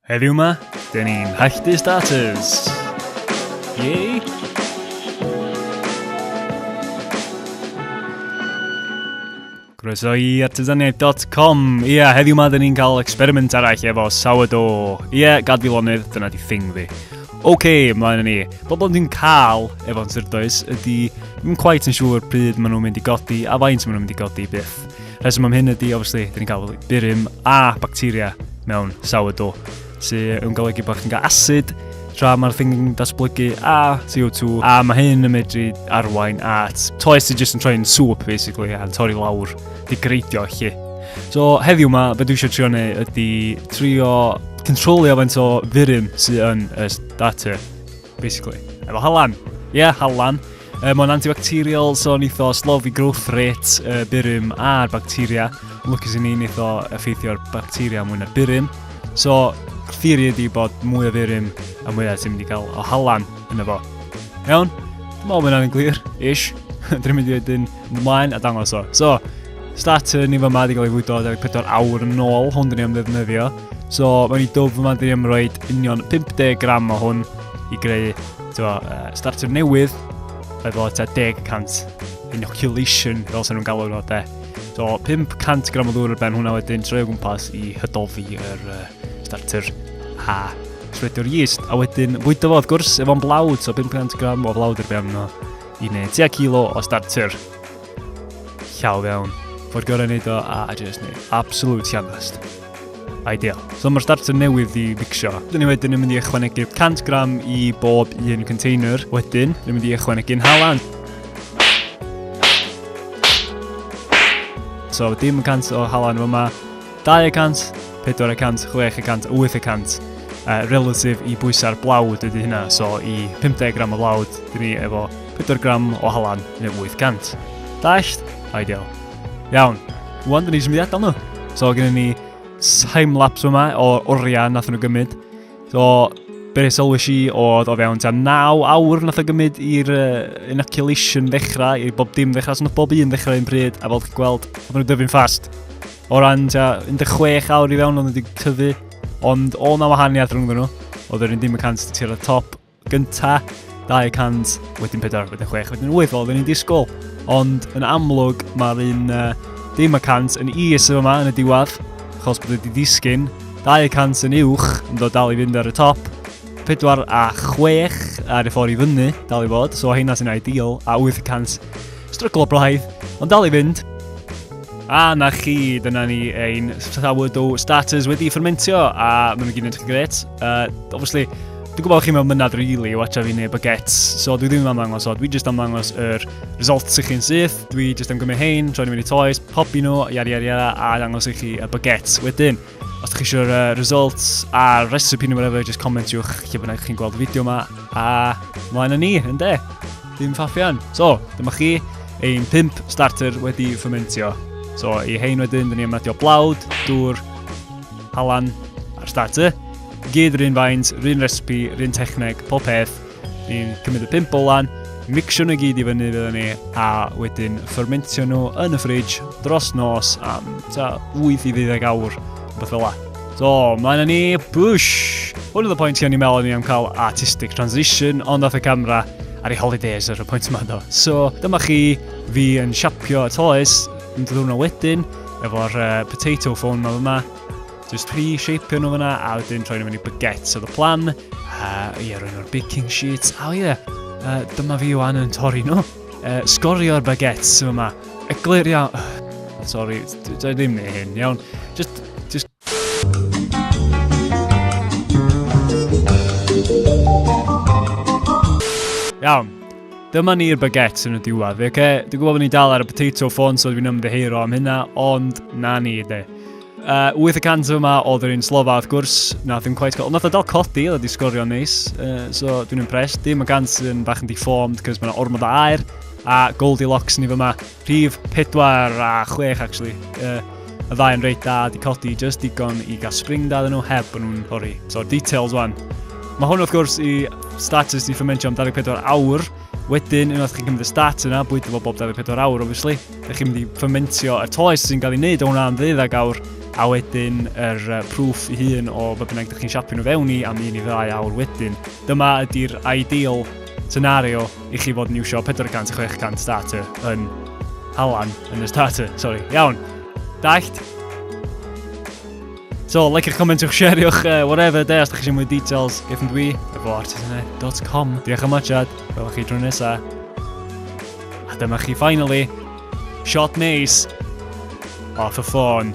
Heddiw ma, dyn ni'n halltu starters! Yay! Croeso i artesaniaeth.com. Ie, yeah, heddiw ma dyn ni'n cael experiment arall efo sourdough. Ie, yeah, gad fi lonydd, dyna di thing fi. Oce, okay, ymlaen yn ni. Pobl dwi'n cael efo'n syrdoes ydy, dwi'n quite yn siŵr pryd maen nhw'n mynd i godi a faint maen nhw'n mynd i godi byth. Rheswm am hyn ydy, obviously, dyn ni'n cael burum a bacteria mewn sourdough, sy'n yn golygu bod chi'n cael acid tra mae'r thing yn datblygu a CO2 a mae hyn yn medru arwain at toes sy'n jyst yn troi'n soup basically a'n torri lawr di greidio chi. So heddiw yma, beth dwi eisiau trio neu ydy trio controlio faint o furum sy'n yn y starter. basically. Efo halan. Ie, yeah, halan. Um, Mae'n antibacterial, so yn eitho slofi growth rate, uh, byrym a'r bacteria. Yn lwcus i ni'n eitho effeithio'r bacteria mwy na byrym. So, theori ydi bod mwy o byrym a mwy o ti'n mynd i gael o halan yn efo. Iawn? Dwi'n meddwl bod hwnna'n glir, ish. Dwi'n mynd i wedyn Mynd ymlaen a dangos o. So, starter ni fy mad i gael ei fwydo 24 awr yn ôl, hwn dyn ni am ddefnyddio. So, mae'n i dwf yma dyn ni am roed union 50 gram o hwn i greu tywa, uh, starter newydd efo ta 10 cant inoculation, fel sy'n nhw'n galw nhw, de. So, 500 gram o ddŵr ar ben hwnna wedyn troi o gwmpas i hydolfi yr uh, starter a trwy'r yeast. A wedyn, fwydo fo, wrth gwrs, efo'n blawd, so 500 gram o flawd ar ben hwnna. i wneud tua kilo o starter. Llaw fewn. Ffordd gorau wneud o a just wneud absolute sianast. Ideal. So mae'r starter newydd i fixio. Dyn ni wedyn yn mynd i ychwanegu 100 gram i bob un container. Wedyn, dyn ni'n mynd i ychwanegu'n halan. So dim 100 o halan yma. 200, 400, 600, 800 uh, relatif i bwysau'r blawd ydy hynna. So i 50 gram o blawd, dyn ni efo 4 gram o halan neu 800. Dasht? Ideal. Iawn. Wan, dyn ni symud adael nhw. So gen ni time-lapse yma o oriau nath nhw gymryd. So, beth sylwys i oedd o fewn ta 9 awr nath o gymryd i'r uh, inoculation ddechrau, i bob dim ddechrau, so nath bob un ddechrau un pryd, a fel chi'n gweld, oedd nhw'n dyfu'n ffast. O ran ta 16 awr i fewn o'n wedi tyfu, ond o na wahaniaeth rhwng nhw. Oedd yr un dim y cant tir y top gynta, 200, wedyn 4, wedyn 6, wedyn 8, fel oedden ni'n disgwyl. Ond yn amlwg, mae'r un uh, dim y cant yn is yma yn y diwedd, achos bod wedi disgyn, 200 yn uwch, yn dod dal i fynd ar y top, 4 a 6 ar y ffordd i fyny, dal i fod, so hynna sy'n ideal, a 800 Stryglo braidd, ond dal i fynd. A na chi, dyna ni ein sourdough starters wedi ffermentio a maen nhw gyd yn edrych gret. Uh, obviously, dwi'n gwybod bod chi'n mewn mynad rili i watcha fi neu baguettes, so dwi ddim yn ymddangos o, dwi jyst am ddangos yr results i chi'n syth, dwi jyst am gymryd hein, troi'n mynd i toes, popi nhw, iari iari iari, a ddangos i chi y baguettes wedyn. Os ydych chi eisiau'r uh, results a recipe neu whatever, just commentiwch lle bynnag chi'n gweld y fideo yma. A mlaen â ni, yn de. Dim ffaffian. So, dyma chi ein pimp starter wedi ffymentio. So, i hein wedyn, dyn ni am adio blawd, dŵr, halan a'r starter. Gyd rhywun faint, rhywun recipe, rhywun techneg, pob peth. Ni'n cymryd y pimp bolan, mixio nhw i gyd i fyny fydden ni, a wedyn fermentio nhw yn y ffridge dros nos am ta 8 i 12 awr, beth fel la. So, mlaen â ni, bush! Hwn oedd y pwynt i o'n i'n meddwl ni am cael artistic transition, ond off y camera ar ei holidays ar y pwynt yma do. So, dyma chi fi yn siapio y toes, yn dod hwnna wedyn, efo'r uh, potato phone yma yma, Just pre-shapio nhw fyna a wedyn troi nhw fyny baguettes oedd y plan. A ie, rwy'n o'r baking sheets. A ie, uh, dyma fi o'n yn torri nhw. Uh, sgorio'r baguettes sy'n yma. Eglur iawn. Uh, sorry, dwi ddim neu hyn, iawn. Just, just... Iawn. Dyma ni'r baguettes yn y diwedd. Oce, okay? dwi'n gwybod bod ni'n dal ar y potato ffôn, so dwi'n ymddeheiro am hynna, ond na ni, de. Uh, 8 y cant yma oedd yr un slofa, wrth gwrs, na ddim cweith cael. Ond nath o dal codi, oedd wedi sgorio neis. Uh, so dwi'n impressed. Dim y gant yn bach yn deformed, cys mae'n ormod o air. A Goldilocks ni fyma. Rhif 4 a 6, actually. Uh, y ddau yn reit da, di codi just digon i gael spring da nhw heb yn nhw'n hori. So details wan. Mae hwn wrth gwrs i status di fermentio am 24 awr. Wedyn, unwaith chi'n cymryd y stat yna, bwyta fo bob 24 awr, obviously. Ydych chi'n mynd i ffermentio y toes sy'n cael ei wneud o hwnna am ddeuddag awr a wedyn yr uh, proof i hun o fe bynnag ydych chi'n siapio nhw fewn i am un i ddau awr wedyn. Dyma ydy'r ideal scenario i chi fod yn iwsio 400 600 starter yn halan yn y starter, sori. Iawn, dallt? So, like eich comentwch, share'wch, uh, whatever, de, os da chi eisiau mwy details, gefn dwi, efo artisanau.com. Diolch am watchad, welwch chi drwy nesaf. A dyma chi finally, shot neis off y ffôn.